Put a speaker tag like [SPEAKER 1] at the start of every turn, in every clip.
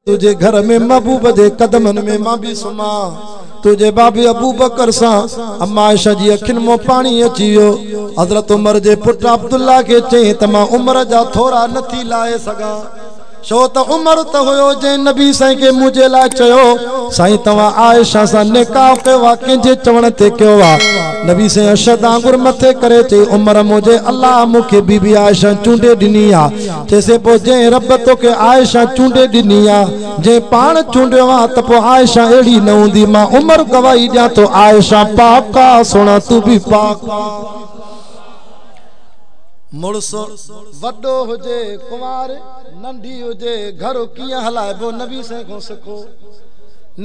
[SPEAKER 1] تنهنجي گهر ۾ محبوب جي قدمن ۾ مان به سمهان تنهنجي بابي ابوبڪر سان اما عائشه جي اکين مان پاڻي اچي ويو حضرت عمر جي پٽ عبدالله کي چيائين ته مان عمر جا ٿورا نه ٿي لاهي سگهان ڇو ته عمر ته هيو جنهن نبي سائين کي منهنجي لاء چيو سائين توهان عائشه سان نڪاح ڪيو آهي ڪنهن جي چوڻ تي ڪيو آهي نبي سائين اشهد آنگر مٿي ڪري چيائين عمر منهنجي الله مون کي بيبي عائشه چونڊي ڏني آهي چيسين پوء جنهن رب توکي عائشه چونڊي ڏني آ، جنهن پاڻ چونڊيو آ ته پوء عائشه اهڙي نه هوندي، مان عمر گواهي ڏيان ٿو عائشه پاڪ آ، سهڻا تون به پاڪ آ. مڙس وڏو هجي ڪنوار ننڍي هجي گهر ڪيئن هلائبو نبي سائين کان سکو.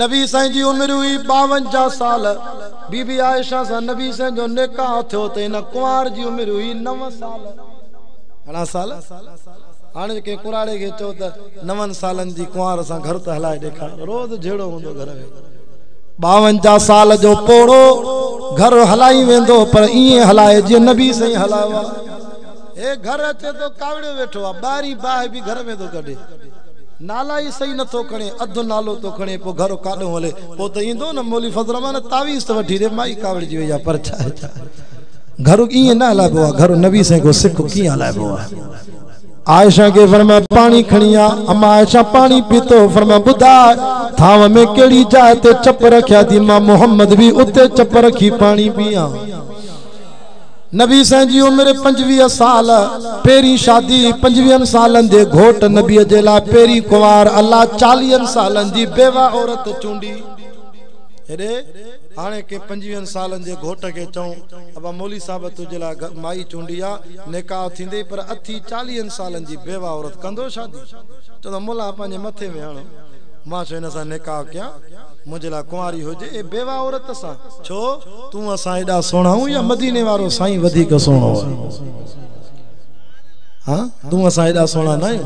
[SPEAKER 1] نبي سائين جي عمر هئي ٻاونجاهه سال، بي بي عائشه سان نبي سائين جو نڪاح ٿيو ته هن ڪنوار جي عمر هئي نو سال. گهڻا سال؟ هاڻي جي ڪنهن ڪنراڙي کي چئو ته نون سالن جي ڪنوار سان گهر ته هلائي ڏيکار، روز جهيڙو هوندو گهر ۾. ٻاونجاهه سال جو پوڙهو گهر هلائي ويندو پر ائين هلائي جيئن نبي سائين هلايو آ. هي گهر اچي ٿو ڪاوڙيو ويٺو آ، ٻاهرين باهه به گهر ۾ ٿو ڪڍي. نالا ئي صحيح نه ٿو کڻي، اڌ نالو ٿو کڻي، پوء گهر ڪاڏنهون هلي؟ پوء ته ايندو نه مولوي فضل الرحمان تعويذ ته وٺي ڏي، مائي ڪاوڙجي وئي آ پر ڇا ڇا. گهر ائين نه هلائبو آ گهر نبي سين ڪو سک ڪيئن هلائبو آ عائشه کي فرمايو پاڻي کڻي آ اما عائشه پاڻي پيتو فرمايو ٻڌاء ٿانو ۾ ڪهڙي جاء تي چپ رکيا ٿي مان محمد به اتي چپ رکي پاڻي پيان نبي سين جي عمر 25 سال پهرين شادي 25 سالن جي گهوٽ نبي جي لاء پهرين ڪنوار الله 40 سالن جي بيوه عورت چونڊي هاڻي ڪنهن پنجويهن سالن جي گهوٽ کي چئون ابا مولوي صاحب تنهنجي لاء مائي چونڊي آ، نڪاح ٿيندئي پر اٿي چاليهن سالن جي بيوه عورت ڪندو شادي؟ چوندو ملا پنهنجي مٿي ۾ هڻ، مان ڇو هن سان نڪاح ڪيان، منهنجي لاء ڪنواري هجي اي بيوه عورت سان. ڇو تون اسان ايڏا سهڻا آهيون يا مديني وارو سائين وڌيڪ سهڻو آهي؟ ها تون اسان ايڏا سهڻا نه آهيون.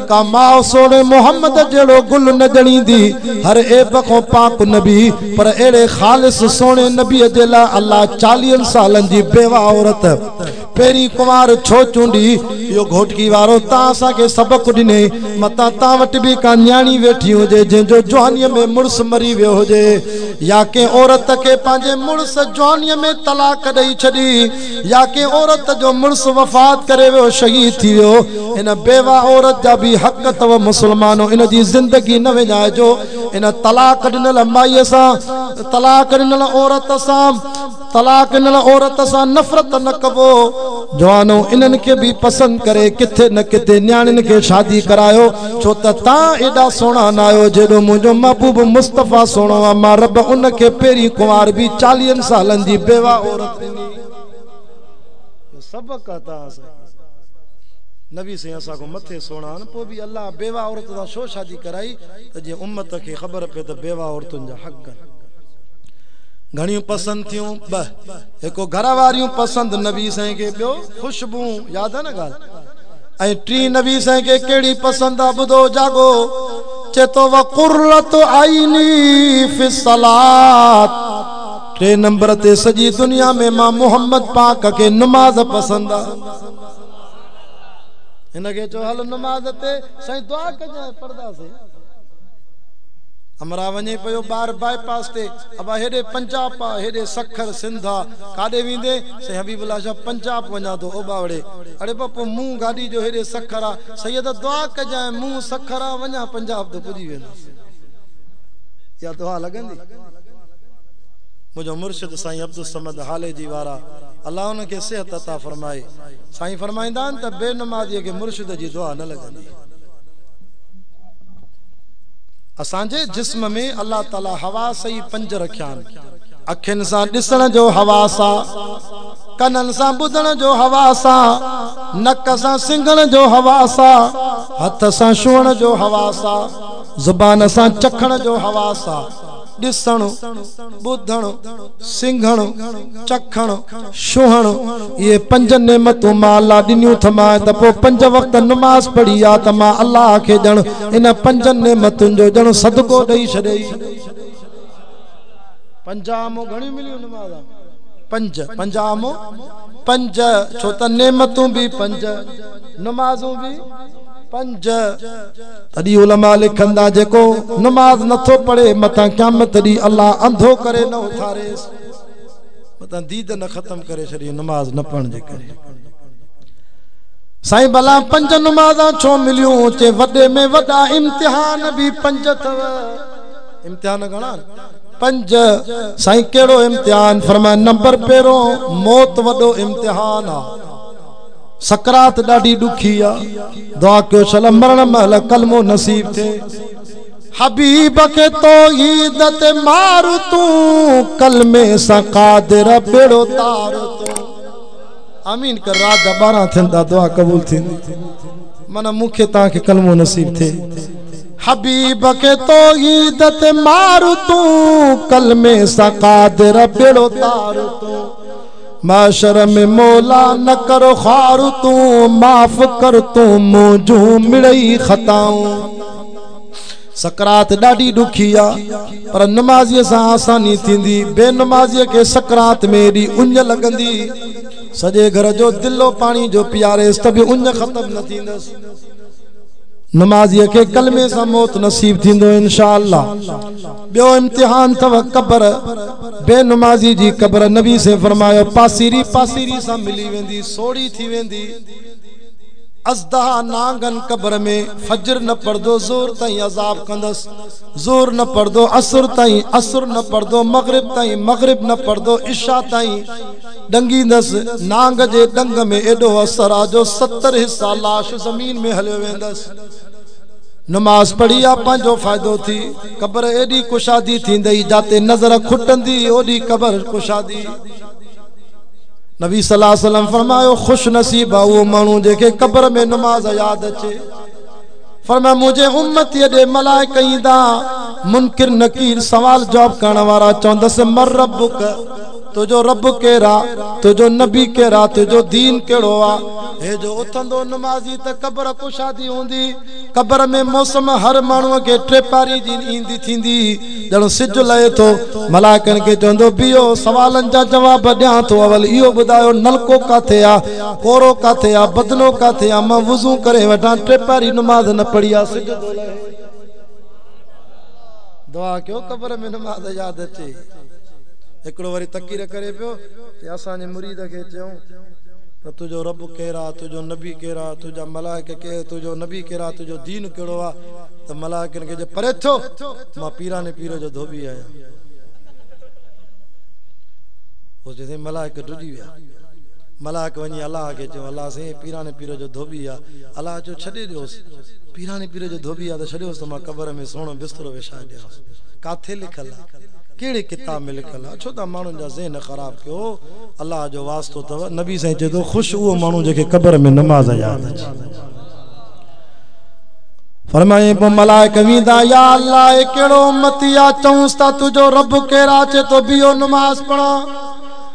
[SPEAKER 1] ڪا ماء سهڻي محمد جهڙو گل نه ڄڻيندي، هر عيب کان پاڪ نبي، پر اهڙي خالص سهڻي نبي جي لاء الله چاليهن سالن جي بيوه عورت پهرين ڪنوار ڇو چونڊي؟ اهو گهوٽڪي وارو تان اسان کي سبق ڏني، متان تان وٽ به ڪا نياڻي ويٺي هجي جنهن جو جوانيء ۾ مڙس مري ويو هجي يا ڪنهن عورت کي پنهنجي مڙس جوانيء ۾ طلاق ڏئي ڇڏي، يا ڪنهن عورت جو مڙس وفات ڪري ويو شهيد ٿي ويو ان بيوه عورت جا به حق اٿو مسلمانو ان جي زندگي نه وڃائجو ان طلاق ڏنل مائي سان طلاق ڏنل عورت سان طلاق ڏنل عورت سان نفرت نه ڪبو جوانو انهن کي به پسند ڪري ڪٿي نه ڪٿي نياڻين کي شادي ڪرايو ڇو ته تان ايڏا سهڻا نه آهيو جيڏو منهنجو محبوب مصطفيٰ سهڻو آهي مان رب ان کي پهرين ڪنوار به چاليهن سالن جي بيوه عورت سبق عطا سائين نبي سائين اسا کو مٿي سونا ان پو بي الله بيوا عورت سان شو شادي ڪرائي ته جي امت کي خبر پي ته بيوا عورتن جا حق ڪن گھڻيون پسند ٿيون ب هڪو گھر واريون پسند نبي سائين کي بيو خوشبو ياد نه گال ۽ ٽي نبي سائين کي ڪهڙي پسند آ بدو جاگو چي تو وقرت عيني في الصلاه ٽئين نمبر تي سڄي دنيا ۾ مان محمد پاڪ کي نماز پسند آ هن کي چو هل نماز تي سائين دعا ڪجان پڙدا سي امرا وڃي پيو بار بائي پاس تي ابا هيڏي پنجاب آ هيڏي سکر سنڌ آ ڪاڏي ويندي سائين حبيب الله شاهه پنجاب وڃان ٿو او ٻاوڙي اڙي با پو مون گاڏي جو هيڏي سکر آ سيد دعا ڪجان مون سکر آ وڃان پنجاب ته پڄي ويندس يا دعا لڳندي منهنجو مرشد سائين عبدالصمد هالي جي وارا الله ان کي صحت عطا فرمائي سائين فرمائيندا آهن ته بي نمازيء کي مرشد جي دعا نه لڳندي اسان جي جسم ۾ الله تعالي حواس ئي پنج رکيا آهن اکين سان ڏسڻ جو حواس آ ڪنن سان ٻڌڻ جو حواس آ نڪ سان سنگهڻ جو حواس آ هٿ سان شوهڻ جو حواس آ زبان سان چکڻ جو حواس آ ڏسڻ، ٻڌڻ، سنگهڻ، چکڻ، ڇهڻ، اهي پنج نعمتون مان الله ڏنيون تھ مانء تھ پوء پنج وقت نماز پڙهي ها تھ مان الله کي ڄڻ انهن پنجن نعمتن جو ڄڻ صدقو ڏئي ڇڏيس. پنجاهه مون گهڻيون مليون نمازان؟ پنج، پنجاهه مون پنج، ڇو تھ نعمتون به پنج، نمازون به پنج. تڏي علماء لکن ٿا جيڪو نماز نه ٿو پڙهي متان قيامت ڏينهن الله انڌو ڪري نه اٿاريس متان ديد نه ختم ڪري ڇڏي نماز نه پڙهڻ جي ڪري سائين بلا پنج نمازا ڇو مليون چي وڏي ۾ وڏا امتحان به پنج ٿو امتحان گھڻا پنج سائين ڪهڙو امتحان فرمائي نمبر پيرو موت وڏو امتحان آ سڪرات ڏاڍي ڏکي آ دعا ڪيو شل مرڻ مهل ڪلمو نصيب ٿئي حبيب کي توحيد تي مار تون ڪلمي سان قادر بيڙو تار تون امين ڪر رات جا 12 ٿيندا دعا قبول ٿيندي من مون کي تان کي ڪلمو نصيب ٿئي حبيب کي توحيد تي مار تون ڪلمي سان قادر بيڙو تار تون محشر ۾ مولا نه ڪر خوار تون معاف ڪر تون منهنجون مڙئي خطائون سڪرات ڏاڍي ڏکي آ پر نمازي سان آساني ٿيندي بي نمازي کي سڪرات ۾ ايڏي اڃ لڳندي سڄي گهر جو دلو پاڻي جو پياريس ته به اڃ ختم نه ٿيندس نمازي کي ڪلمي سان موت نصيب ٿيندو انشاء الله ٻيو امتحان اٿو قبر، بي نمازي جي قبر، نبي سين فرمايو پاسيري پاسيري سان ملي ويندي سوڙهي ٿي ويندي، ازدها نانگن قبر ۾ فجر نه پڙهندو ظهر تائين عذاب ڪندس، ظهر نه پڙهندو عصر تائين، عصر نه پڙهندو مغرب تائين، مغرب نه پڙهندو عشاء تائين ڏنگيندس، نانگ جي ڏنگ ۾ ايڏو اثر آ جو ستر حصا لاش زمين ۾ هليو ويندس. نماز پڙهي آ پنهنجو فائدو ٿي. قبر ايڏي ڪشادي ٿيندئي جاتي نظر کٽندي اوڏي قبر ڪشادي. نبي صلي الله عليه وسلم فرمايو خوش نصيب آ اهو ماڻهو جنهن کي قبر ۾ نماز ياد اچي. فرمايو منهنجي امتي ڏي ملائڪ ايندا منڪر نڪير سوال جواب ڪرڻ وارا چوندس من ربک؟ تنهنجو رب ڪير آ؟ تنهنجو نبي ڪير آ؟ تنهنجو دين ڪهڙو آ؟ هي جو اٿندو نمازي ته قبر ڪشادي هوندي. قبر ۾ موسم هر ماڻهوء کي ٽيپاري جي ايندي ٿيندي. ڄڻ سج لهي ٿو. ملائڪن کي چوندو بيهو سوالن جا جواب ڏيان ٿو اول اهو ٻڌايو نلڪو ڪاٿي آ؟ ڪورو ڪاٿي آ؟ بدنو ڪاٿي آ؟ مان وضو ڪري وٺان ٽيپاري نماز نه پڙهي آ سج ٿو لهي. دعا ڪيو قبر ۾ نماز ياد اچي هڪڙو وري تقرير ڪري پيو چي اسان جي مريد کي چيون ته تنهنجو رب ڪير آ تنهنجو نبي ڪير آ تنهنجا ملائڪ ڪير تنهنجو نبي ڪير آ تنهنجو دين ڪهڙو آ ته ملائڪن کي چئي پري ٿيو مان پيراڻي پير جو ڌوٻي آهيان پوء چيسين ملائڪ ڊڄي ويا ملائڪ وڃي الله کي چيون الله سائين پيراڻي پير جو ڌوٻي آ الله چيو ڇڏي ڏيوس پيراڻي پير جو ڌوٻي آ ته ڇڏيوس ته مان قبر ۾ سهڻو بسترو وڇائي ڏيانس. ڪاٿي لکيل آ؟ ڪهڙي ڪتاب ۾ لکيل آ؟ ڇو ٿا ماڻهن جا ذهن خراب ڪيو؟ الله جو واسطو اٿو. نبي سائين چئي ٿو خوش اهو ماڻهو جنهن کي قبر ۾ نماز ياد اچي. فرمائين پوء ملائڪ ويندا يا الله هي ڪهڙو امتي آ چئونس ٿا تنهنجو رب ڪير آ چئي ٿو بيهو نماز پڙهان.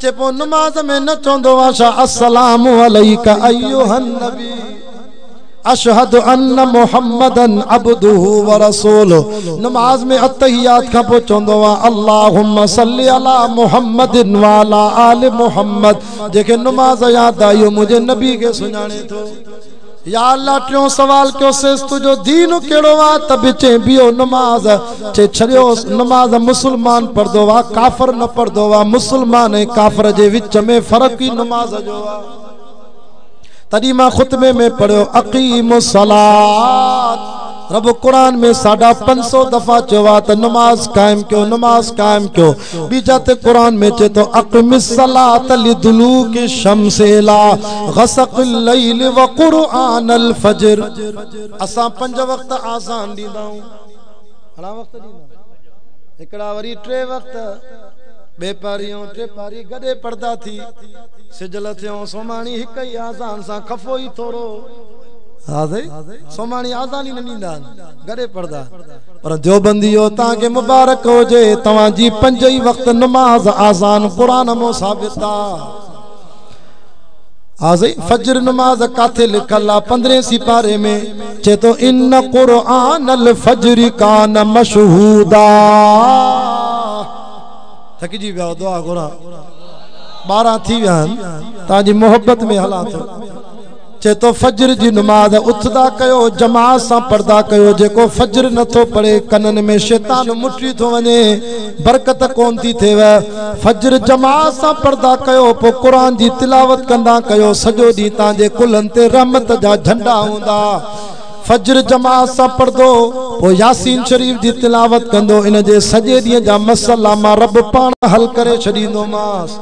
[SPEAKER 1] چي پوء نماز ۾ نه چوندو آهيان السلام عليك ايها النبي اشهد ان محمدا عبده ورسوله نماز ۾ التحيات کان پوء چوندو آهيان اللهم صل علي محمد وعلي آل محمد جيڪي نماز يا داعيو منهنجي نبي کي سڃاڻي ٿو يا الله ٽيون سوال ڪيوسيس تنهنجو دين ڪهڙو آ ته به چين بيهو نماز چي ڇڏيوس نماز مسلمان پڙهندو آ ڪافر نه پڙهندو آ مسلمان ۽ ڪافر جي وچ ۾ فرق ئي نماز جو آ تڏهن مان خطبي ۾ پڙهيو اقيموا الصلات رب قرآن ۾ ساڍا پنج سؤ دفعا چيو آهي ته نماز قائم ڪيو نماز قائم ڪيو ٻي جاء تي قرآن ۾ چئي ٿو اقم الصلاة لدلوڪ الشمس الي غسق الليل وقرآن الفجر اسان پنج وقت آذان ڏيندا آهيون گهڻا وقت ڏيندا آهيون هڪڙا وري ٽي وقت ٻي پاري ۽ ٽي پاري گڏي پڙهدا ٿي سج لٿيون سوماڻي هڪ ئي آذان سان خفو ئي ٿورو ها سائين سوماڻي آذان ئي نه ڏيندا آهن گڏي پڙهندا آهن پر ديوبنديو توهان کي مبارڪ هجي توهان جي پنج ئي وقت نماز آذان قرآن مون ثابت آ ها سائين فجر نماز ڪاٿي لکل آ پندرهين سپاري ۾ چي تو ان قرآن الفجر کان مشهودا ٿڪجي ويا دعا گهران ٻارهن ٿي ويا آهن توهان جي محبت ۾ هلان ٿو چئي ٿو فجر جي نماز اٿندا ڪيو جماعت سان پڙھندا ڪيو جيڪو فجر نه ٿو پڙھي ڪنن ۾ شيطان مٽي ٿو وڃي برڪت ڪون ٿي ٿئيو فجر جماعت سان پڙھندا ڪيو پوء قرآن جي تلاوت ڪندا ڪيو سڄو ڏينھن تان جي ڪلھن تي رحمت جا جھنڊا ھوندا فجر جماعت سان پڙھندو پوء ياسين شريف جي تلاوت ڪندو ان جي سڄي ڏينھن جا مسئلا مان رب پاڻ حل ڪري ڇڏيندومانس.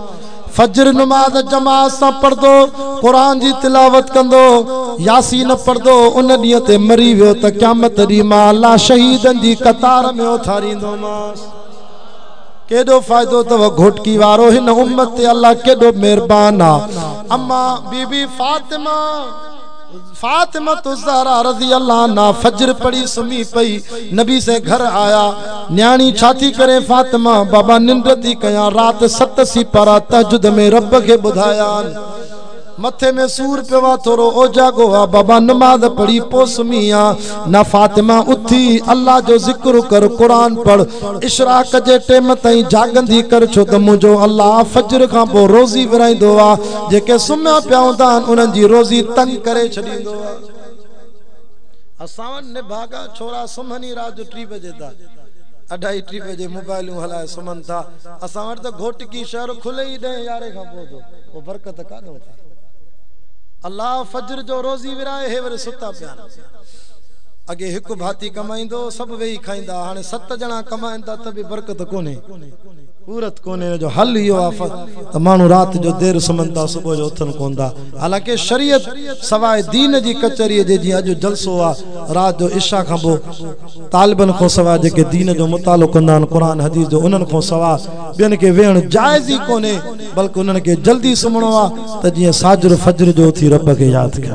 [SPEAKER 1] فجر نماز جماعت سان پڙهندو، قرآن جي تلاوت ڪندو، ياسين پڙهندو، ان ڏينهن تي مري ويو ته قيامت ڏينهن مان الله شهيدن جي قطار ۾ اٿاريندومانس. ڪيڏو فائدو اٿو گهوٽڪي وارو هن امت تي الله ڪيڏو مهربان آ امان بي بي فاطمه. فاطمة الزهرا رضي الله عنها فجر پڙهي سمهي پئي، نبي سين گهر آيا، نياڻي ڇا ٿي ڪرين فاطمه، بابا ننڊ ٿي ڪيان، رات ست سيپارا تهجد ۾ رب کي ٻڌايان، مٿي ۾ سور پيو آ، ٿورو اوجاڳو آ، بابا نماز پڙهي پوء سمهي آ. نه فاطمه اٿي الله جو ذڪر ڪر قرآن پڙھ اشراق جي ٽيم تائين جاڳندي ڪر ڇو ته منهنجو الله فجر کان پوء روزي ورهائيندو آ جيڪي سمهيا پيا هوندا آهن انهن جي روزي تنگ ڪري ڇڏيندو آ اسان وٽ نڀاڳا ڇورا سمهن ئي رات جو ٽي بجي تان اڍائي ٽي بجي موبائلون هلائي سمهن ٿا اسان وٽ ته گهوٽڪي شهر کلي ئي ڏهين يارهين کان پوء ٿو پوء برڪت ڪاڏهون ٿي الله فجر جو روزي ورهائي هي وري ستا پيا آهن اڳي هڪ ڀاتي ڪمائيندو هو، سڀ ويهي کائيندا ها، هاڻي ست ڄڻا ڪمائن ٿا ته به برڪت ڪونهي، پورت ڪونهي، ان جو حل اهو آهي ته ماڻهو رات جو دير سمهن ٿا، صبح جو اٿن ڪونه ٿا، حالانڪه شريعت سواء دين جي ڪچهريء جي جيئن اڄ جلسو آهي، رات جو عشا کان پوء طالبن کان سواء جيڪي دين جو مطالعو ڪندا آهن، قرآن حديث جو، انهن کان سواء ٻين کي ويهڻ جائز ئي ڪونهي، بلڪ انهن کي جلدي سمهڻو آهي ته جيئن ساجھر فجر جو اٿي رب کي ياد ڪن.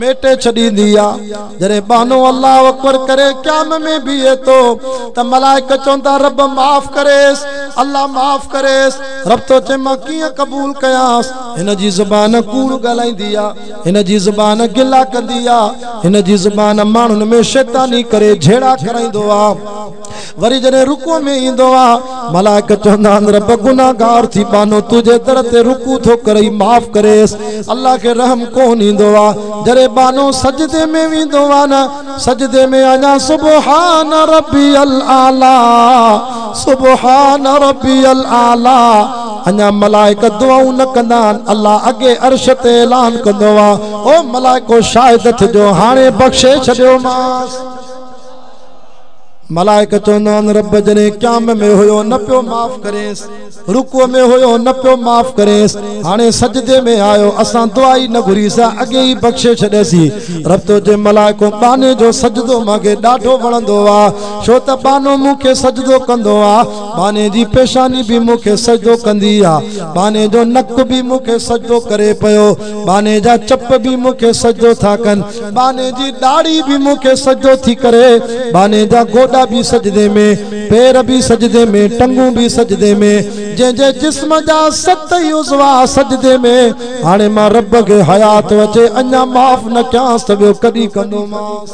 [SPEAKER 1] ميٽي ڇڏيندي آ. جڏهن ٻانهو الله اڪبر ڪري قيام ۾ بيهي ٿو ته ملائڪ چوندا رب معاف ڪريس الله معاف ڪريس رب ٿو چئي مان ڪيئن قبول ڪيانس هن جي زبان ڪوڙ ڳالهائيندي آ هن جي زبان گلا ڪندي آ هن جي زبان ماڻهن ۾ شيطاني ڪري جهيڙا ڪرائيندو آ. وري جڏهن رڪوع ۾ ايندو آ، ملائڪ چوندا آهن، رب گنهگار ٿي ٻانهو تنهنجي در تي رڪوع ٿو ڪري معاف ڪريس. الله کي رحم ڪونه ايندو آ. جڏهن ٻانهو سجدي ۾ ويندو آ نه، سجدي ۾ اڃا سبحان ربي الاعليٰ، سبحان ربي الاعليٰ، اڃا ملائڪ دعائون نه ڪندا آهن، الله اڳي عرش تي اعلان ڪندو آ، او ملائڪو شاهد ٿجو هاڻي بخشي ڇڏيومانس. ملائڪ چوندا آهن رب جڏهن قيام ۾ هيو نه پيو معاف ڪرينس رڪوع ۾ هيو نه پيو معاف ڪرينس هاڻي سجدي ۾ آيو اسان دعا ئي نه گهريسا اڳي ئي بخشي ڇڏيسي رب تو جي ملائڪو ٻانهي جو سجدو مان کي ڏاڍو وڻندو آ ڇو ته ٻانهو مون کي سجدو ڪندو آ ٻانهي جي پيشاني به مون کي سجدو ڪندي آ ٻانهي جو نڪ به مون کي سجدو ڪري پيو ٻانهي جا چپ به مون کي سجدو ٿا ڪن ٻانهي جي ڏاڙهي به مون کي سجدو ٿي ڪري، ٻانهي جا گوڏا به سجدي ۾، پير به سجدي ۾، ٽنگون به سجدي ۾، جنهن جي جسم جا ست ئي عضوا سجدي ۾، هاڻي مان رب کي حيا ٿو اچي، اڃا معاف نه ڪيانس ته ٻيو ڪڏهن ڪندومانس.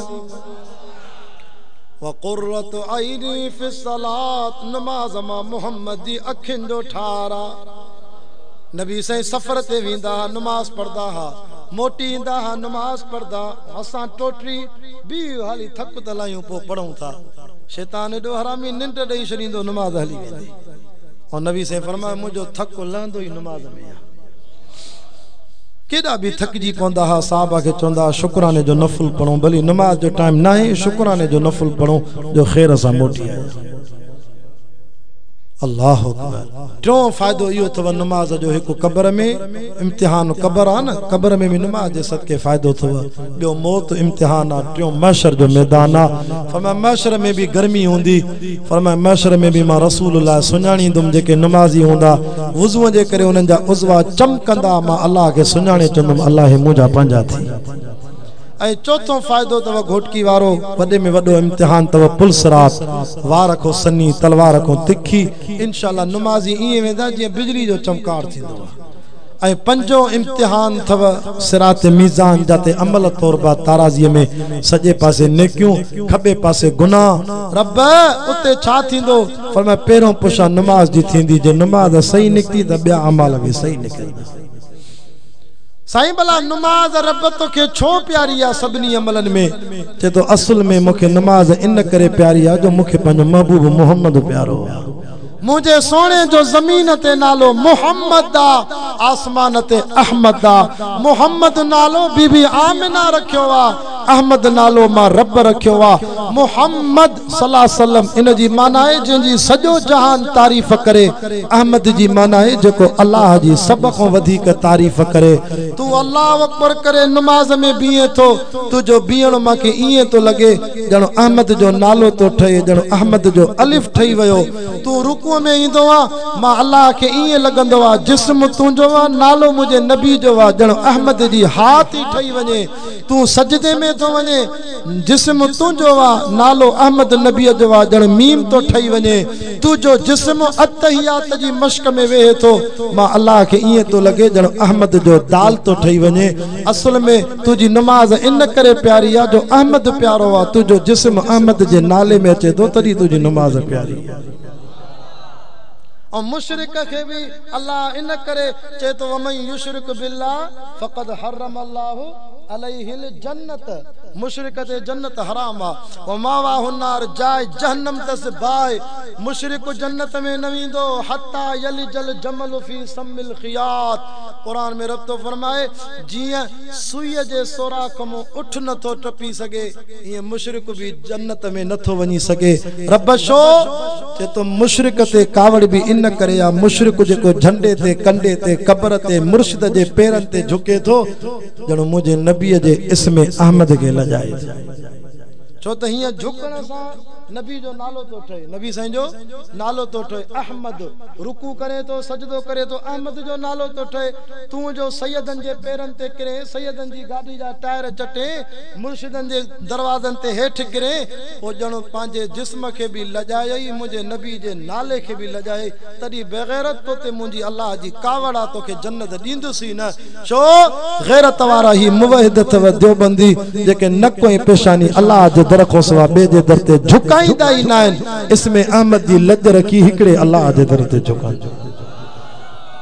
[SPEAKER 1] وقرة عيني في الصلاة نماز مان محمد جي اکين جو ٺار آ. نبي سائين سفر تي ويندا ها نماز پڙهندا ها موٽي ايندا ها نماز پڙهندا هاسان ٽوٽري بيهه هالي ٿڪ ته لاهيون پو پڙهون ٿا شيطان ايڏو حرامي ننڊ ڏئي ڇڏيندو نماز هلي ويندي ۽ نبي سائين فرمايو منهنجو ٿڪ لهندو ئي نماز ۾ آ. ڪيڏا به ٿڪجي پوندا ها صحابه کي چوندا ها شڪراني جو نفل پڙهون ڀلي نماز جو ٽائيم ناهي شڪراني جو نفل پڙهون جو خير سان موٽي آيا الله اڪبر ٽيون فائدو اهو اٿو نماز جو هڪ قبر ۾ امتحان قبر آ نه قبر ۾ به نماز جي صدقي فائدو اٿو ٻيو موت امتحان آ ٽيون محشر جو ميدان آ فرمايا محشر ۾ به گرمي هوندي فرمايو، محشر ۾ به مان رسول الله سڃاڻيندم جيڪي نمازي هوندا، وضوء جي ڪري انهن جا عضوا چمڪندا، مان الله کي سڃاڻي چوندم الله هي منهنجا پنهنجا ٿي. ۽ چوٿون فائدو اٿو گهوٽڪي وارو، وڏي ۾ وڏو امتحان اٿو پل صراط، وار رکو سنهي، تلوار رکو تکي، انشاء الله نمازي ائين ويندا جيئن بجلي جو چمڪار ٿيندو آهي. ۽ پنجون امتحان ٿو صراط ميزان جا تي عمل توربا تارازي ۾ سڄي پاسي نيڪيون کٻي پاسي گناھ رب اتي ڇا ٿيندو فرمايو پهريون پشا نماز جي ٿيندي جي نماز صحيح نڪتي ته ٻيا اعمال به صحيح نڪرندا. سائين ڀلا نماز رب توکي ڇو پياري آ سڀني عملن ۾ چي ٿو اصل ۾ مونکي نماز ان ڪري پياري آ جو مونکي پنهنجو محبوب محمد پيارو آ. منهنجي سهڻي جو زمين تي نالو محمد آ، آسمان تي احمد آ. محمد نالو بي بي آمنه رکيو آ، احمد نالو مان رب رکيو آ. محمد صلاحسلم ان جي معنيٰ آهي جنهن جي سڄو جهان تعريف ڪري، احمد جي معنيٰ آهي جيڪو الله جي سڀ کان وڌيڪ تعريف ڪري. تون الله اڪبر ڪري نماز ۾ بيهين ٿو، تنهنجو بيهڻ مانکي ائين ٿو لڳي ڄڻ احمد جو نالو ٿو ٺهي، ڄڻ احمد جو الف ٺهي ويو، تون رڪوع ۾ ايندو آ، مان الله کي ائين لڳندو آ، جسم تنهنجو آ، نالو منهنجي نبي جو آ، ڄڻ احمد جي هاء ٿي ٺهي وڃي، تون سجدي ۾ ٿو وڃين، جسم تنهنجو آ، نالو احمد نبيء جو آ، ڄڻ ميم ٿو ٺهي وڃي، تنهنجو جسم التحيات جي مشق ۾ ويهي ٿو، مان الله کي ائين ٿو لڳي، ڄڻ احمد جو دال ٿو ٺهي وڃي، اصل ۾ تنهنجي نماز ان ڪري پياري آ جو احمد پيارو آ تنهنجو جسم احمد جي نالي ۾ اچي ٿو تڏهن تنهنجي نماز پياري آ. ۽ مشرڪ کي به الله ان ڪري چئي ٿو ومن يشرڪ بالله فقد حرم الله عليه الجنت مشرڪ تي جنت حرام آ وماواه النار جاء جهنم تس باهه مشرڪ جنت ۾ نه ويندو حتي يلج الجمل في سم الخياط قرآن ۾ رب ٿو فرمائي جيئن سوئيء جي سوراخ مون اٺ نه ٿو ٽپي سگهي، ايئن مشرڪ به جنت ۾ نه ٿو وڃي سگهي. رب شو چي تو مشرڪ تي ڪاوڙ به ان ڪري آ، مشرڪ جيڪو جهنڊي تي، ڪنڊي تي، قبر تي، مرشد جي پيرن تي جهڪي ٿو، ڄڻ منهنجي نبيء جي اسم احمد کي لڄائي ٿو. ڇو ته هيئن جهڪڻ سان نبي جو نالو ٿو ٺهي، نبي سائين جو نالو ٿو ٺهي، احمد، رڪوع ڪري ٿو، سجدو ڪري ٿو، احمد جو نالو ٿو ٺهي. تون جو سيدن جي پيرن تي ڪرين، سيدن جي گاڏي جا ٽائر چٽين، مرشدن جي دروازن تي هيٺ ڪرين، پوء ڄڻ پنهنجي جسم کي به لڄائيئي، منهنجي نبي جي نالي کي به لڄائيئي، تڏهن بيغيرت تو تي منهنجي الله جي ڪاوڙ آ، توکي جنت ڏيندس ئي نه، ڇو غيرت وارا هي موحد اٿئو ديوبندي، جيڪي نڪ ۽ پيشاني الله جي در کان سوا ٻئي جي در تي جهڪائيندا ئي ناهن، اسم احمد جي لڄ رکي هڪڙي الله جي در تي جهڪائيندو.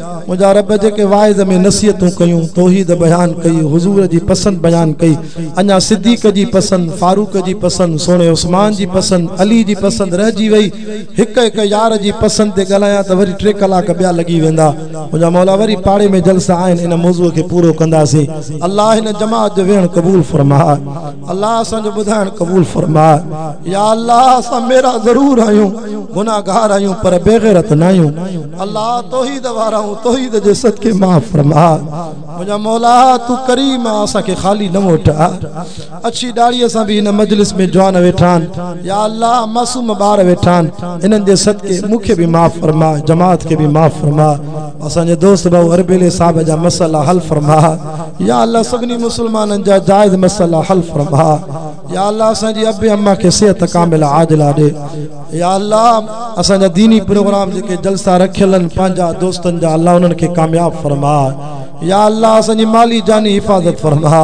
[SPEAKER 1] منهنجا رب جيڪي واعظ ۾ نصيحتون ڪيون، توحيد بيان ڪئي، حضور جي پسند بيان ڪئي، اڃا صديق جي پسند، فاروق جي پسند، سهڻي عثمان جي پسند، علي جي پسند رهجي وئي، هڪ هڪ يار جي پسند تي ڳالهايان ته وري ٽي ڪلاڪ ٻيا لڳي ويندا، منهنجا مولا وري پاڙي ۾ جلسا آهن ان موضوع کي پورو ڪنداسين، الله هن جماعت جو ويهڻ قبول فرماء، الله اسان جو ٻڌائڻ قبول فرماء، يا الله اسان ميرا ضرور آهيون، گنهگار آهيون پر بيغيرت ناهيون. الله توحيد وارائون توحيد جي صدقي معاف فرما منهنجا مولا تون ڪريم آ اسان کي خالي نه موٽاء اڇي ڏاڙهي سان به هن مجلس ۾ جوان ويٺا آهن يا الله معصوم ٻار ويٺا آهن انهن جي صدقي مون کي به معاف فرما جماعت کي به معاف فرما اسان جي دوست ڀاء اربيلي صاحب جا مسئلا حل فرما يا الله سڀني مسلمانن جا جائز مسئلا حل فرما يا الله اسان جي ابي اما کي صحت ڪامله عاجله ڏي يا الله اسان جا ديني پروگرام جيڪي جلسا رکيل ان پنهنجا دوستن جا الله انهن کي ڪامياب فرما يا الله اسان جي مالي جاني حفاظت فرما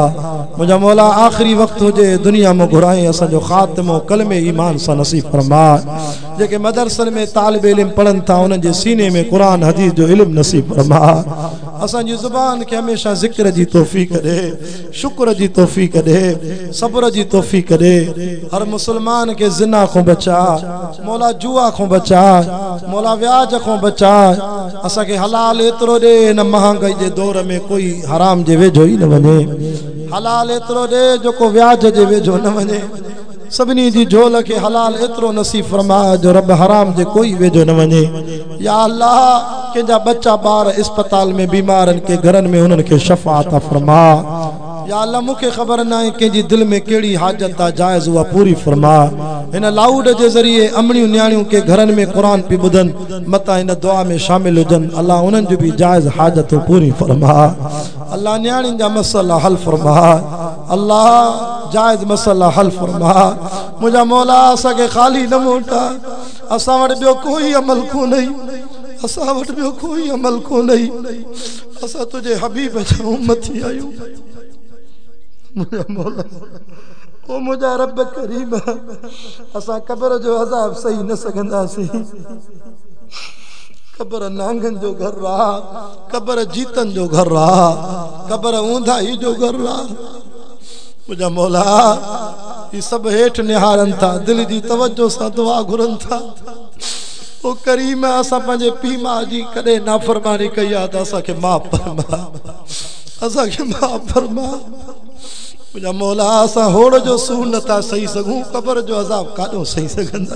[SPEAKER 1] منهنجا مولا آخري وقت هجي دنيا مون گهرائين اسان جو خاتمو ڪلمي ايمان سان نصيب فرما جيڪي مدرسن ۾ طالب علم پڙهن ٿا انهن جي سيني ۾ قرآن حديث جو علم نصيب فرما اسان جي زبان کي هميشه ذڪر جي توفيق ڏي شڪر جي توفيق ڏي صبر جي توفيق ڏي هر مسلمان کي زنا کون بچاء مولا جوا کون بچاء مولا وياج کون بچاء اسان کي حلال ايترو ڏي هن مهانگائي جي دور ۾ ڪوئي حرام جي ويجهو ئي نه وڃي حلال ايترو ڏي جو ڪو وياج جي ويجهو نه وڃي سڀني جي جهول کي حلال ايترو نصيب فرماء جو رب حرام جي ڪوئي ويجهو نه وڃي يا الله ڪنهن جا ٻچا ٻار اسپتال ۾ بيمار ان ڪي گهرن ۾ انهن کي شفا عطا فرماء يا الله مون کي خبر ناهي ڪنهن جي دل ۾ ڪهڙي حاجت آ جائز اها پوري فرماء هن لائوڊ جي ذريعي امڙيون نياڻيون ڪي گهرن ۾ قرآن پي ٻڌن متان هن دعا ۾ شامل هجن الله انهن جون به جائز حاجتون پوريون فرماء الله نياڻين جا مسئلا حل فرماء. الله جائز مسئلا حل فرما منهنجا مولا اسان کي خالي نه موٽاء اسان وٽ ٻيو ڪوئي عمل ڪونهي اسان وٽ ٻيو ڪوئي عمل ڪونهي اسان تنهنجي حبيب جا امتي آهيون منهنجا مولا او منهنجا رب ڪريم اسان قبر جو عذاب سهي نه سگهنداسين قبر نانگن جو گهر آ قبر جيتن جو گهر آ قبر اونداهي جو گهر آ منهنجا مولا هي سڀ هيٺ نهارن ٿا دل جي توجه سان دعا گهرن ٿا او ڪريم اسان پنهنجي پي ماء جي ڪڏهن نافرماني ڪئي آ ته اسان کي معاف فرما اسان کي معاف فرما منهنجا مولا اسان هوڙ جو سون نٿا سهي سگهون قبر جو عذاب ڪاڏو سهي سگهندا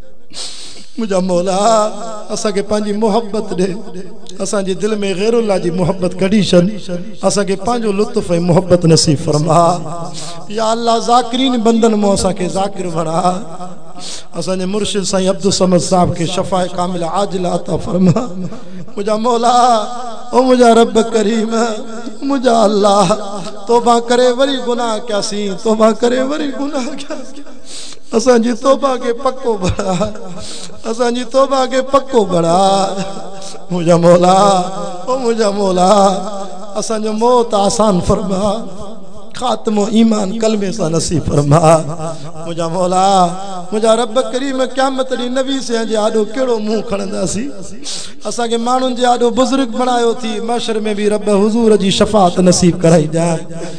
[SPEAKER 1] منهنجا مولا اسان کي پنهنجي محبت ڏي اسان جي دل ۾ غير الله جي محبت ڪڍي ڇڏ اسان کي پنهنجو لطف ۽ محبت نصيب فرما يا الله ذاڪرين بندن مون اسان کي ذاڪر بڻا اسان جي مرشد سائين عبدالصمد صاحب کي شفاء ڪامله عاجله عطا فرما منهنجا مولا او منهنجا رب ڪريم منهنجا الله توبه ڪري وري گناهه ڪياسين توبه ڪري وري گناهه ڪياسين اسان جي توبه کي پڪو بڻاء اسان جي توبه کي پڪو بڻاء منهنجا مولا او منهنجا مولا اسان جو موت آسان فرماء خاتمو ايمان ڪلمي سان نصيب فرماء منهنجا مولا منهنجا رب ڪريم قيامت ڏينهن نبي سيان جي آڏو ڪهڙو منهن کڻنداسين اسان کي ماڻهن جي آڏو بزرگ بڻايو ٿي محشر ۾ به رب حضور جي شفاعت نصيب ڪرائي ڄاڻ